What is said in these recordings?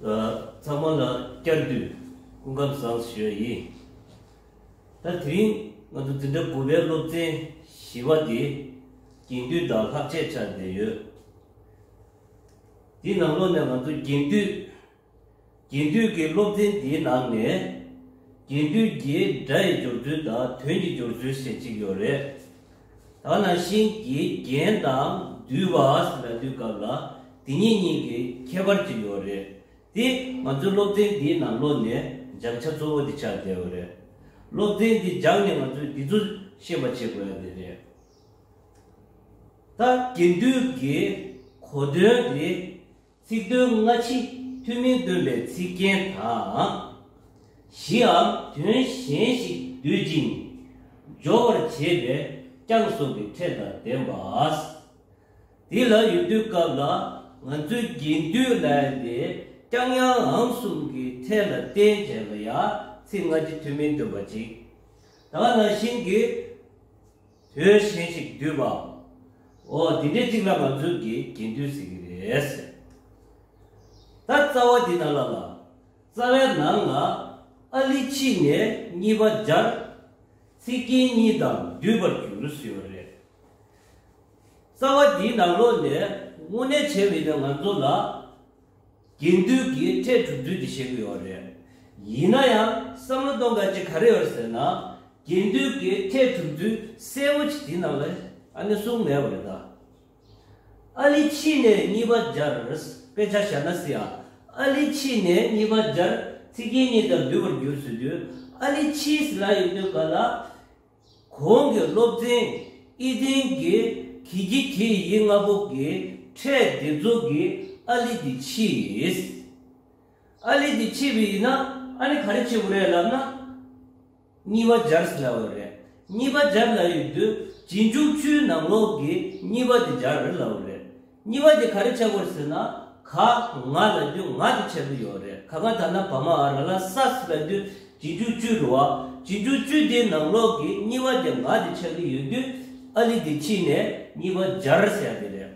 ཚང་མ་ལ་བསྐྱར་དུས་སྐུ་ཁམས་བཟང་ཞུ་ཡི། ད་དེ་རིང་ང་ཚོ་འཛིན་གྲྭ་དགུ་པའི་སློབ་ཚན་བཞི་བ་དེ་རྒྱན་དུས་དང་ལྷག་ཆད་ཆགས་བསྡད་ཡོད། འདི་ནང་ལོགས་ནས་ང་ཚོ་རྒྱན་དུས་རྒྱན་དུས་ཀྱི་སློབ་ཚན་དེའི་ནང་ནས་རྒྱན་དུས་ཀྱི་སྒྲ་ཡི་སྦྱོར་ཚུལ་དང་དོན་གྱི་སྦྱོར་ཚུལ་ཞེས་གཅིག་ཡོད་རེད། ད་ནང་བཞིན་གྱི་རྒྱན་དང་འདུལ་བ་ཨཱས་ལ་དུས་སྐབས་ལ་དེ་ཉིད་གཉིས་ཀྱི་ཁྱད་པར་གྱིས་ཡོད་རེད་དེ། ང་ཚོའི་སློབ་ཚན་འདིའི་ནང་ལོ་ནས་སྦྱང་བྱ་གཙོ་བོ་འདི་ཆགས་བསྡད་ཡོད་རེད། སློབ་ཚན་འདི་སྦྱངས་ནས་ང་ཚོས་འདི་ཚོ་ཤེས་པ་བྱེད་དགོས་ཡ་དེ་རེད། ད་དགེ་འདུན་གྱི་གོ་དོན་དེ་ཚིག་དོན་སྔ་ཕྱི་མཐུན་མིན་སྟོན་པའི་ཚིག་རྒྱན་དང། བཞིའམ་དོན་གཞན་ཞིག་བསྡུད་ཅིང་སྦྱོར་བར་བྱེད་པའི་རྐྱང་སོགས་ཀྱི་ཕྲད་དང་ལྡན་པ། འདི་ལ་ཡུལ་དུས་སྐབས་ལ་ང་ཚོའི་དགེ་འདུན་ལས་འདིའི་རྐྱང་ཡང་ཨང་གསུམ་གྱི་ཕྲད་ལ་བརྟེན་བྱས་པ་ཡང་ཚིག་སྔ་ཕྱི་མཐུན་མིན་སྟོན་པ་གཅིག་དང་ནང་བཞིན་གྱི། དོན་གཞན་ཞིག་བསྡུས་པའམ། འོ་འདི་འདྲའི་གཅིག་ལ་ང་ཚོས་དགེ་རྒན་དུས་ཟེར་གྱི་རེད་ཟེར། ད་རྩ་བ་འདི་ན་ལ་ལ། རྩ་བའི་ནང་ལ་ཨཱ་ལི་ཕྱིས་ནས་གཉིས་པ་སྦྱར། ཚིག་རྒྱན་གཉིས་དང་བསྡུས་པར་གྱུར་ཟེར་བ་རེད། རྩ་བ་འདིའི་ནང་ལོགས་ནས་དངོས་གནས་བྱས་མེད་པའི་ང་ཚོ་ལ། དགེ་འདུན་གྱིས་ཁྲལ་དྲུག་བསྡུས་ཏེ་བཤད་ཀྱི་ཡོད་རེད། ཡིན་ན་ཡང་བསམ་བློ་གཏོང་དཀའ་ཅི་ག་རེ་ཡོད་ཟེར་ན། དགེ་འདུན་གྱིས་ཁྲལ་དྲུག་བསྡུས་གསལ་བོ་ཅིག་དེའི་ནང་ལ་ཨ་ནི་གསུངས་མེད་པ་རེད་ད། ཨ་ལི་ཕྱིས་ནས་གཉིས་པ་སྦྱར་དཔེ་ཆ་བཞག་ན་སྲིད་ཨ། ཨ་ལི་ཕྱིས་ནས་གཉིས་པ་སྦྱར་ཚིག་རྒྱན་གཉིས་དང་བསྡུས་པར་འགྱུར་ཟེར་དུས་ཨ་ལི་ཕྱིས་ཟེར་ན་ཡིན་དུས་ག་ལ། གོང་གི་སློབ་ཚན་ཨི་ལྡན་གྱི་གི་གི་གི་ཡིག་ལྔ་པོ་གི་ཕྲད་སྡེབ་འཛུགས་ཀྱི་ཨཱ་ལི་འདི་ཕྱིས། ཨཱ་ལི་འདི་ཕྱིས་པའི་ཡིན་ན་ཨཱ་ནི་ག་རེ་ཕྱིས་པོ་རེད་ལབ་ན། གཉིས་པ་སྦྱར་སླ་བ་རེད། གཉིས་པ་སྦྱར་སླ་ཡོད་དུས་རྗེས་འཇུག་ཆུའི་ནང་ལོགས་ཀྱི་གཉིས་པ་འདི་སྦྱར་སླ་བ་རེད། གཉིས་པ་དེ་ག་རེ་བྱ་དགོས་ཟེར་ན། ཁ་ང་ལ་རྒྱུ་ང་དེ་བྱ་རྒྱུ་ཡོད་རེད་ཁ་ང་ད་ནག་བ་མ་ཨ་ར་ལ་ས་སི་པའི་དུས་གྱི་རྒྱུ་བཅུ་རུ་བ་གྱི་རྒྱུ་བཅུ་དེའི་ནང་ལོག་གི་གཉིས་པ་དེ་ང་དེ་བྱ་གི་ཡོད་དུས་ཨ་ལི་དེ་ཁྱི་ནས་གཉིས་པ་སྦྱར་ཟེར་ཡ་དེ་རེད།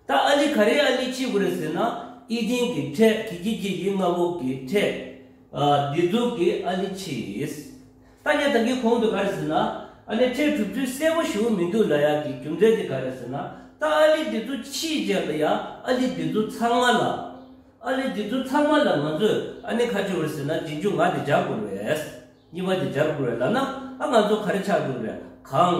ད་ཨ་ལི་ག་རེའི་ཨ་ལི་ཁྱི་དགོས་རེད་ཟེར་ན་ཨི་ཏིང་གི་ཁྲེ་གི་ཁྱི་ཁྱི་ཡི་ང་བུག་གི་ཁྲེ། ཨ་དེ་ཛུག་གི་ཨ་ལི་ཁྱི་ཡིས། ད་ནི་ད་གིའི་གོང་དུ་ག་རེ་ཟེར་ན། ཨ་ནེ་ཁྲའི་གྲུབ་ཚུལ་གསལ་པོ་ཞུ་འོ་མི་འདུག་ན་ཡག་གི་རྒྱུ་མཚན་དེ་ག་རེ་ཟེར་ན། ད་ཨ་ལི་འདི་ཚོ་ཕྱིའི་རྗེས་ལ་ཡང་ཨ་ལི་འདི་ཚོ་ཚང་མ་ལ། ཨ་ལི་འདི་ཚོ་ཚང་མ་ལ་ང་ཚོས་ཨ་ནེ་ག་ཅི་འོ་ཟེར་ན་རྗེས་འཇུག་ང་དེ་སྦྱར་དགོས་རེད། གཉིས་པ་དེ་སྦྱར་དགོས་རེད་ལབ་ན་ཨ་ང་ཚོ་ག་རེ་ཆགས་དགོས་རེད་གང།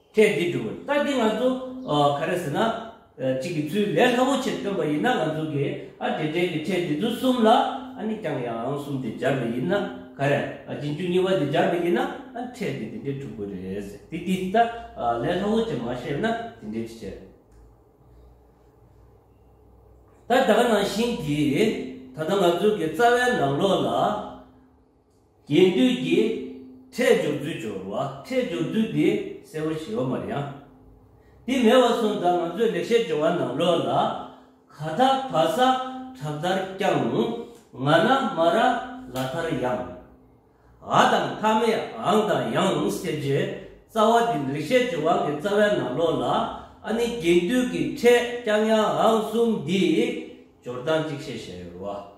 ཐེངས་འདིའི་སྒྲུང་གཏམ་འདི་ང་ཚོ་ག་རེ་ཟེར་ན། གཅིག་གི་ཚུལ་ལས་སླ་བོ་ཆེ་སྟོན་པ་ཡིན་ན་ང་ཚོ་གི་ཨ་དེ་འབྲེལ་གྱི་ཕྲད་འདི་ཚོ་གསུམ་ལ་ཨ་ནི་རྐྱང་ཡང་གསུམ་དེ་སྦྱར་བ་ཡིན་ན་ག་རེ་ཨ་རྗེས་འཇུག་གཉིས་པ་དེ་སྦྱར་བ་ཡིན་ན་ཨ་ཕྲད་འདི་དེ་འདྲས་གྲུབ་དགོས་རེད་ཟེར་དེ་འདི་ལྟ་ལས་སླ་བོ་ཆེ་མ་ཤེས་ན་དེ་འདྲས་ཅི་བྱེད། ད་ད་ག་ནང་བཞིན་གྱིས་ད་ལྟ་ང་ཚོ་གི་རྩ་བའི་ནང་ལོགས་ལ། རྒྱས་བསྡུས་ཀྱི་ཕྲད་སྦྱོར་བསྡུས་སྦྱོར་བ་ཕྲད་སྦྱོར་བསྡུས་འདི་གསལ་བོ་ཞི་བ་མ་རེད་ཡང། འདི་མེད་བ་སོང་ཙང་ང་ཚོས་ལེགས་བཤད་སྦྱོར་བ་ནང་ལོགས་ལ་ག་ད་བ་ས་བྲག་ལྟར་བརྐྱང། ང་ན་མ་ར་ལ་ལྟར་ཡང། ཨ་དང་ཐ་མའི་ཨང་དང་ཡང་ཟེར་རྗེས་རྩ་བ་འདི་ལེགས་བཤད་སྦྱོར་བ་གི་རྩ་བའི་ནང་ལོགས་ལ་ཨ་ནི་རྒྱས་བསྡུས་ཀྱི་ཕྲད་བརྐྱང་ཡང་ཨང་གསུམ་འདིའི་སྦྱོར་སྟངས་གཅིག་བཤད་བཞིན་ཡོད་རེད་བ།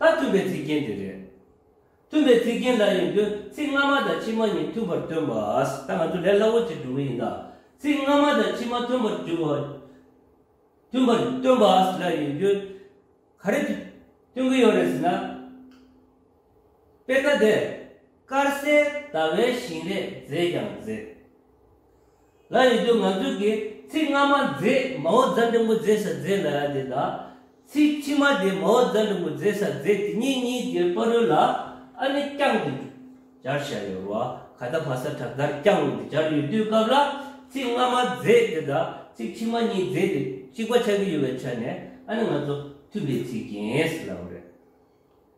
ད་སྟོན་པའི་ཚིག་རྒྱན་དེ་རེད། སྟོན་པའི་ཚིག་རྒྱན་འདྲ་ཡིན་དུས་ཚིག་སྔ་མ་དང་ཕྱི་མ་གཉིས་མཐུན་པར་སྟོན་པ། ད་ང་ཚོ་ལས་སླ་བོ་ཅིག་འགྲོ་གི་ཡིན་ད། ཚིག་སྔ་མ་དང་ཕྱི་མ་མཐུན་པར་བསྒྱུར་བ། མཐུན་པར་སྟོན་པ་འདྲ་ཡིན་དུས། ག་རེ་སྟོན་གི་ཡོད་རེད་ཟེར་ན། དཔེར་ན་དེར་དཀར་གསལ་ཟླ་བའི་བཞིན་རས་མཛེས་ཀྱང་མཛེས། ལ་ཡི་དུས་ང་དྲུག་གི་ཚིག་སྔ་མ་མཛེས་མའོ་རྫ་འབྲིང་པོ་མཛེས་ས་མཛེས་ལ་ཡ་དེ་དང། ཚིག་ཕྱི་མ་དེ་མའོ་རྫ་འབྲིང་པོ་མཛེས་ས་མཛེས་དེ་གཉིས་གཉིས་དེ་པར་རོལ་ལ་ཨ་ནི་རྐྱང་འདི་སྦྱར་བྱ་ཡོད་རོ་ཨ་ག་ད་བྷ་ས་བྲག་དར་རྐྱང་འདི་སྦྱར་ཡོད་དུས་སྐབས་ལ་ཚིག་སྔ་མ་མཛེས་དེ་དང་ཚིག་ཕྱི་མ་གཉིས་མཛེས་དེ་གཅིག་པ་ཆགས་ཀྱི་ཡོད་པའི་ཆ་ནས་ཨ་ནི་ང་ཚོ་མཐུན་པའི་ཚིག་རྐྱེན་ཟེར་སླ་བ་རེད།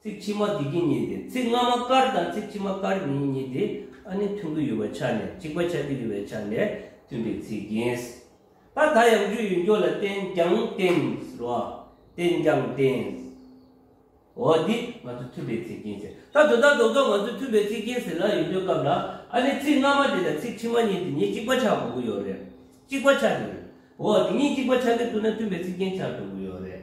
ཚིག་ཕྱི་མ་དེ་གཉིས་གཉིས་ཏེ་ཚིག་སྔ་མ་དཀར་དང་ཚིག་ཕྱི་མ་དཀར་གཉིས་གཉིས་ཏེ་ཨ་ནི་མཐུན་དགུ་ཡོད་པ་ཆ་ནས་གཅིག་པ་ཆ་དེ་ཡོད་པའི་ཆ་ནས་མཐུན་པའི་ཚིག་ཡིན། ད་ད་ཡང་རྒྱུ་ཡོད་འཇོག་ལ་བརྟེན་ཀྱང་བརྟེན་རོ། བརྟེན་ཀྱང་བརྟེན། འོ་འདི་ང་ཚོ་མཐུན་པའི་ཚིག་ཡིན་ཟེར། ད་དོ་ད་དོ་སྐབས་ང་ཚོ་མཐུན་པའི་ཚིག་ཡིན་ཟེར་ན་ཡོད་འཇོག་སྐབས་ལ་ཨ་ནི་ཚིག་སྔ་མ་དེ་དང་ཚིག་ཕྱི་མ་གཉིས་དེ་གཉིས་གཅིག་པ་ཆགས་དགོས་ཀྱི་ཡོད་རེད། གཅིག་པ་ཆགས་ཀྱི་ཡོད། འོ་དེ་གཉིས་གཅིག་པ་ཆགས་ཀྱི་འདུག་ན་མཐུན་པའི་ཚིག་རྐྱེན་ཆགས་དགོས་ཀྱི་ཡོད་རེད།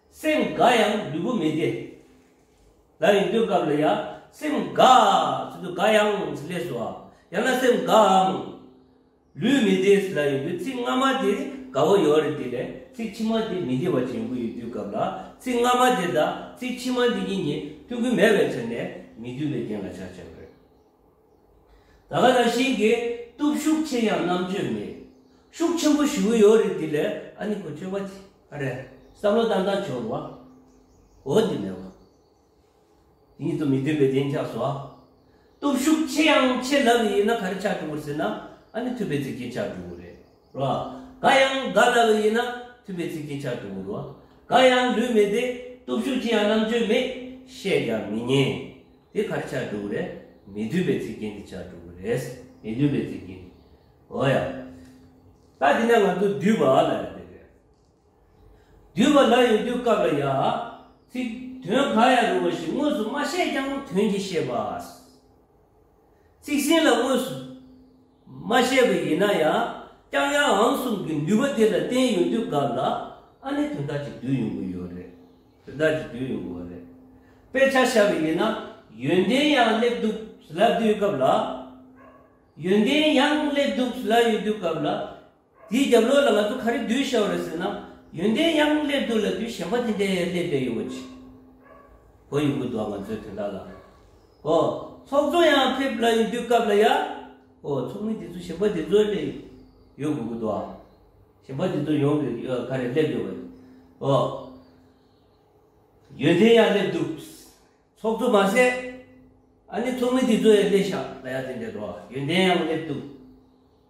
སེམས་དགའ་ཡང་ལུས་པོ་མི་བདེ། ལ་ཡིན་དུས་སྐབས་ལ་ཡ། སེམས་དགའ། ཟེར་དུས་དགའ་ཡང་ཟེར་ལས་སུ་ཨ། ཡང་ན་སེམས་དགའ་འམ། ལུས་མི་བདེ་ཟེར་ལ་ཡིན་དུས་ཚིག་སྔ་མ་དེ་དགའ་བོ་ཡོད་རེད་དེ་ལས་ཚིག་ཕྱི་མ་དེ་མི་བདེ་བ་ཅན་ཡོང་གི་ཡོད་དུས་སྐབས་ལ་ཚིག་སྔ་མ་དེ་དང་ཚིག་ཕྱི་མ་འདི་གཉིས་གཉིས་མཐུན་གི་མེད་པའི་ཕྱིར་ནས་མི་མཐུན་པའི་རྐྱེན་ལ་བྱ་བྱེད་པ་རེད། ད་ག་ལ་ཞིག་གི་སྟོབས་ཤུགས་ཆེ་ཡང་རྣམ་དཔྱོད་མེད། ཤུགས་ཆེན་པོ་ཞུ་གི་ཡོད་རེད་དེ་ལས་ཨ་ནི་ཁོ་ཆོས་པ་ཆེ་ག་རེད་བསམ་བློ་བཏང་ད་ཆོག་བ་འོ་དེ་མེད་བ། དེ་གཉིས་སུ་མི་འཐུས་པའི་བདེན་ཆགས་སོ། སྟོབས་ཤུགས་ཆེ་ཡང་ཆེ་ལབ་ཡིན་ན་ག་རེ་ཆགས་འགྲོ་གི་རེད་ཟེར་ན་ཨ་ནི་འཐུས་པའི་ཚིག་རྒྱན་ཆགས་འགྲོ་གི་རེད། རོ། ག་ཡང་ག་ལ་ལ་ཡིན་ན་མཐུན་པའི་ཚིག་ཅིག་ཆར་དུ་འུར་རོ། ག་ཡང་ལུས་མེད་དེ་སྟོབས་ཤུགས་ཅི་ཡང་རྣམ་དཔྱོད་མེད། བཤད་ཀྱང་མི་ཉན། དེ་གར་ཆར་འགྲོ་གི་རེད། མི་མཐུན་པའི་ཚིག་རྒྱན་དེ་ཆར་འགྲོ་གི་རེད། མི་མཐུན་པའི་ཚིག་རྒྱན་དེ། འོ་ཡ། ད་དེ་ནས་ང་ཚོ་བསྡུས་པ་ལ་ཡོང་དོན་རེད། བསྡུས་པ་ལ་ཡོང་དུས་སྐབས་ལ་ཡ། ཚིག་དོན་ག་ཡ་རུང་བ་ཞིག་དངོས་སུ་མ་བཤད་ཀྱང་དོན་གྱིས་ཤེས་པ། ཚིག་ཟིན་ལ་དངོས་སུ། མ་བཤད་པ་ཡིན་ན་ཡང་རྐྱང་ཡང་ཨང་གསུམ་གྱི་ནུས་པ་དེ་ལ་བརྟེན་ཡོང་དུས་སྐབས་ལ་ཨ་ནི་དོན་དག་ཅིག་བསྡུས་ཡོང་གི་ཡོད་རེད། དོན་དག་ཅིག་བསྡུས་ཡོང་གི་ཡོད་རེད། དཔེ་ཆ་བཤད་པ་ཡིན་ན་ཡོན་ཏན་ཡང་སླེབས་འདུག་ཟླ་དུས་སྐབས་ལ། ཡོན་ཏན་ཡང་སླེབས་འདུག་ཟླ་ཡོད་དུས་སྐབས་ལ། དེའི་རྒྱབ་ལོགས་ལ་ང་ཚོ་ག་རེ་བསྡུས་བཞག་རེད་ཟེར་ན། ཡོན་ཏན་ཡང་སླེབས་འདུག་ལ་དུས་གཞན་པ་དེ་འདྲས་ཡང་སླེབས་བསྡད་ཡོད་པ་ཅིག་གོ་ཡོང་གི་འདུག་ང་ཚོས་དེ་འདྲ་ལ། ཨོ། ཚོགས་གཙོ་ཡང་ཕེབས་ལ་ཡོང་དུས་སྐབས་ལ་ཡ། ཨོ་ཚོགས་མི་དེ་ཚོ་གཞན་པ་དེ་ཚོ་ལས་ཡོད་དགོས་ཀྱི་འདུག་ཨ། གཞན་པ་དེ་ཚོ་ཡོང་གི་ག་རེ་སླེབས་ཡོད་པ་རེད། ཨོ། ཡོན་ཏན་ཡང་སླེབས་འདུག། ཚོགས་གཙོ་མ་ཟད། ཨ་ནི་ཚོགས་མི་དེ་ཚོ་ཡང་སླེབས་བཞག་ལ་ཡ་དེ་འདྲས་འགྲོ་ཨ། ཡོན་ཏན་ཡང་སླེབས་འདུག།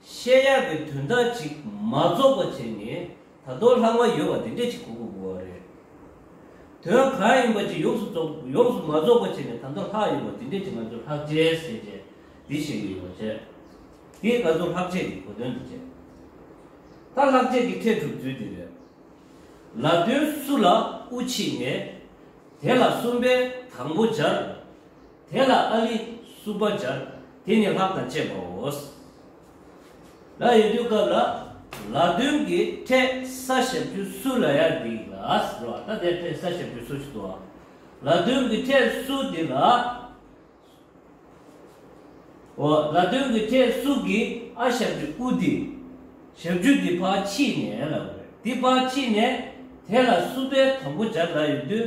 བཤད་ཡག་གི་དོན་དག་ཅིག་མ་རྫོགས་པ་བྱས་ནས་ད་དོག་ལྷག་མ་ཡོད་པ་དེ་འདྲས་ཅིག་གོ་དགོས་དགོས་བ་རེད། དོན་གང་ཡིན་པ་ཅིག་ཡོངས་སུ་རྫོགས་ཡོངས་སུ་མ་རྫོགས་པ་བྱས་ནས་ད་དོག་ལྷག་ཡོད་པ་དེ་འདྲས་ཅིག་ང་ཚོས་ལྷག་བཅས་ཟེར་བྱས་དེ་བཤད་ཀྱི་ཡོད་བ་བྱས། དེས་ང་ཚོར་ལྷག་བཅས་ཀྱི་གོ་དོན་དེ་བྱས། ད་ལྷག་བཅས་ཀྱི་ཁྲལ་སྒྲུབ་དུས་དེ་རེད། ལབ་དོན་སུ་ལ་དབུ་འཁྱིད་ནས་དེ་ལ་གསུམ་པའི་དང་པོ་སྦྱར། དེ་ལ་ཨཱ་ལི་བསྲུབ་པ་སྦྱར། དེ་ནི་ལྷག་དང་བཅས་པའོ། ལ་ཡོད་དུས་སྐབས་ལ་ལ་བདུན་གྱི་འཕྲད་ས་ཞབས་ཀྱུ་སུ་ལ་ཡར་འདི་ལ་རོ་ཨ་ད་དེ་འཕྲད་ས་ཞབས་ཀྱུ་སུ་ཞིག་ཏུ་ཨཱ་ལ་བདུན་གྱི་འཕྲད་སུ་འདི་ལ་ཨཱོ་ལ་བདུན་གྱི་འཕྲད་སུ་གི་ཨ་ཞབས་ཀྱུ་ཨུ་འདི་ཞབས་ཀྱུ་འདི་ཕར་ཕྱིས་ནས་ལ་འོད་འདི་ཕར་ཕྱིས་ནས་དེ་ལ་བསྲུབ་པའི་དང་པོ་སྦྱར་ལ་ཡོད་དུས།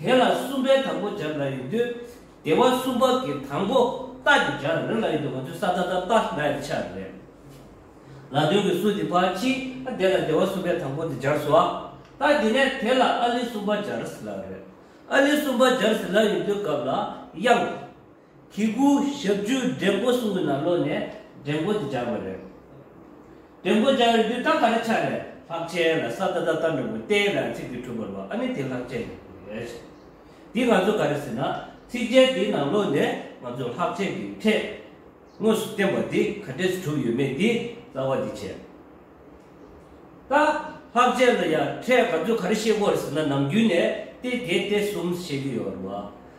དེ་ལ་གསུམ་པའི་དང་པོ་སྦྱར་ན་ཡོད་དུས། སྡེ་བ་གསུམ་པ་གི་དང་པོ་རྟགས་ཀྱི་སྦྱར་རིམ་ལ་ཡོད་དུས་ང་ཚོས་ས་ད་ད་ལྟ་ན་ཡོད་ཆགས་པ་རེད། ལ་དོན་གྱི་སུ་དེ་ཕ་ཅི་ཨ་དེ་ལ་སྡེ་བ་གསུམ་པའི་དང་པོ་དེ་སྦྱར་སོ་ཨ། ད་དེ་ནས་དེ་ལ་ཨཱ་ལི་གསུམ་པ་སྦྱར་ཟིན་ལགས་རེད། ཨཱ་ལི་གསུམ་པ་སྦྱར་ཟིན་ལགས་ཡོད་དུས་སྐབས་ལ་དབྱངས། གི་གུ་ཞབས་ཅུ་འདྲེན་མགོ་གསུམ་གྱི་ནང་ལོགས་ནས་འདྲེན་མགོ་དེ་སྦྱར་བ་རེད། འདྲེན་མགོ་སྦྱར་བའི་དུས་རྟགས་ག་རེ་ཆགས་ནས་ལྷག་ཆད་ལ་ས་ད་ད་ལྟ་འདྲེན་མགོ་བསྟན་ནའི་ཚིག་དེ་གྲུབ་པར་བ་ཨ་ནི་དེ་ལྷག་ཆད་ཡིན་དགོས་རེད། འདི་ང་ཚོ་ག་རེ་ཟེར་ན་ཚིག་འཇལ་དེའི་ནང་ལོགས་ནས་ང་ཚོ་ལྷག་ཆད་ཀྱི་ཐད་དངོས་སུ་བསྟན་པ་དེ་ག་འདྲས་སུ་གྲུབ་ཡོད་མེད་དེའི་རྩ་བ་དེ་བྱས། ད་ལྷག་ཆད་ལ་ཡང་ཕྲད་ང་ཚོས་ག་རེ་བཤད་དགོས་རེད་ཟེར་ན་ནམ་རྒྱུན་ནས་ཏེ་དེ་ཏེ་གསུམ་བཤད་ཀྱི་ཡོད་རེད་བ།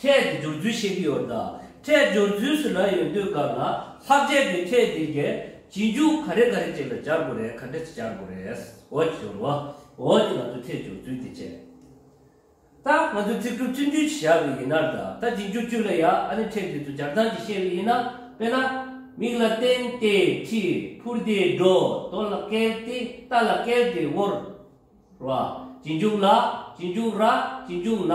ཁྲལ་དེ་སྦྱོར་ཚུལ་ཤེས་ཀྱི་ཡོད་དཱ། ཁྲལ་སྦྱོར་ཚུལ་སུ་ལ་ཡོད་འདོད་དགར་ལ་ལྷག་བྱས་པའི་ཁྲལ་དེ་རྒྱལ་སྤྱིའི་འཇུག་ག་རེ་ག་རེ་ཅིག་ལ་སྦྱར་དགོས་རེད་ག་འདྲ་ཅིག་སྦྱར་དགོས་རེད། འོ་ཅི་སྦྱོར་བ། འོ་ཅི་ང་ཚོས་ཁྲལ་སྦྱོར་ཚུལ་དེ་བྱས། ད་ང་ཚོས་ཚིག་འབྲུ་བཙུན་བཅུ་ཞིག་བཞག་པའི་ཡིན་ནར་ད་ད་འབྱིན་རྒྱུ་བཅུ་ལ་ཡ་ཨ་ནི་ཁྲལ་དེ་ཚོ་སྦྱར་སྟངས་ཅིག་ཤེས་པའི་ཡིན་ན་དཔེ་ན། མིག་ལ་བསྟན་ཏེ་ཁྲི། ཕུར་དེ་སྒྲོ། དོ་ལ་བཀལ་ཏེ་རྟ་ལ་བཀལ་ཏེ་དབོར། ར། འབྱིན་རྒྱུག་ལ། འབྱིན་རྒྱུག་ར། འབྱིན་རྒྱུག་ན།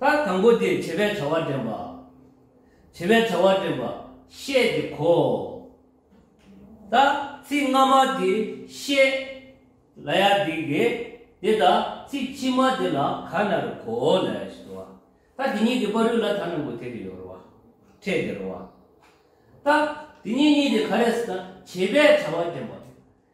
ལྟར་དང་པོ་དེ་བྱེད་པའི་བྱ་བ་འདྲེན་པ། བྱེད་པའི་བྱ་བ་འདྲེན་པ་ཤེས་ཏེ་གོ། ད་ཚིག་སྔ་མ་དེ་ཤེས། ལ་ཡ་དིག་གེ། དེ་ད་ཚིག་ཕྱི་མ་དེ་ལ་ག་ན་རུ་གོ། ལ་ཡ་ཞེས་བ། ད་དེ་གཉིས་དེ་པ་རུས་ལ་ད་ན་མུ་དེ་རི་ཡོ་རུ་བ། ཕྲད་དེ་རུ་བ། ད་དེ་གཉིས་གཉིས་དེ་ག་རེ་ཟེར་ན་བྱེད་པའི་བྱ་བ་འདྲེན་པ།